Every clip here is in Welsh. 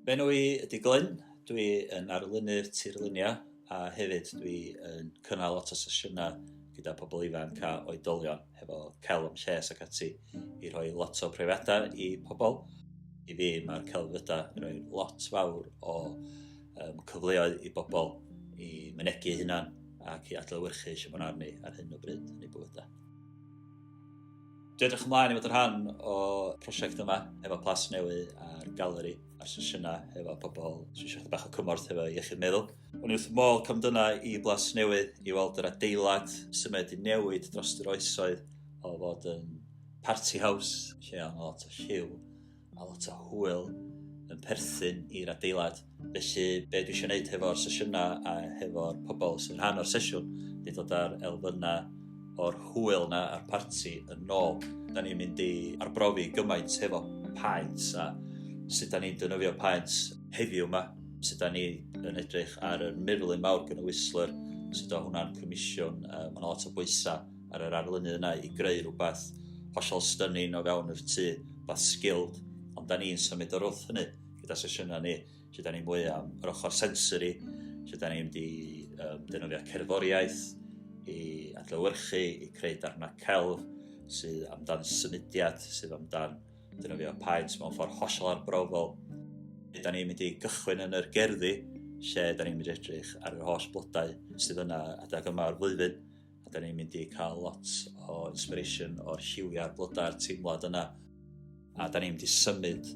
Fy enw i ydy Glyn, dwi yn arlunydd tirluniau a hefyd dwi yn cynnal lot o sesiynau gyda pobl ifanc a oedolion hefo celf am lles ac ati i rhoi lot o profiadau i pobl. I fi mae'r celfyddydau yn rhoi lot fawr o um, cyfleoedd i bobl i mynegu eu hunan ac i adlewyrchu eisiau bod arni ar hyn o bryd yn ei bywydau. Dwi edrych ymlaen i fod yn rhan o prosiect yma efo Plas Newy a'r galeri a'r sesiynau efo pobl sy'n eisiau bach o cymorth efo iechyd meddwl. O'n i wrth môl cam dyna i Blas Newy i weld yr adeilad symed i newid dros yr oesoedd o fod yn party house lle o'n lot o lliw Mae lot o hwyl yn perthyn i'r adeilad. Felly, be dwi eisiau gwneud hefo'r sesiynau a hefo'r pobl sy'n rhan o'r sesiwn, di dod ar elfynnau o'r hwyl na a'r parti yn nôl. Da ni'n mynd i arbrofi gymaint hefo paent a sut da ni'n dynofio paent heddiw yma, sut da ni yn edrych ar y mirlun mawr gan y Whistler, sut o hwnna'n comisiwn, uh, mae'n lot o bwysau ar yr arlunydd yna i greu rhywbeth hollol stunning o fewn y tŷ, rhywbeth skilled, ond da ni'n symud o'r wrth hynny gyda sesiynau ni, lle da ni mwy am yr ochr sensory, lle da ni'n di um, defnyddio cerddoriaeth i adlewyrchu, i creu darnau celf sydd amdan symudiad, sydd amdan defnyddio paent mewn ffordd hollol arbrofol. Da ni'n mynd i gychwyn yn yr gerddi lle da ni'n mynd i edrych ar yr holl blodau sydd yna adeg yma o'r flwyddyn A da ni'n mynd i cael lot o inspiration o'r lliwiau'r blodau'r teimlad yna. A da ni'n mynd i symud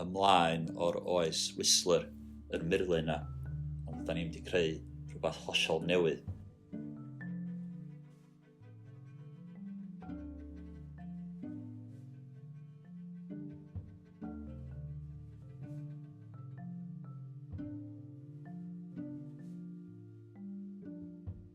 ymlaen o'r oes Whistler yn murlu yna. Ond da ni'n mynd i creu rhywbeth hollol newydd.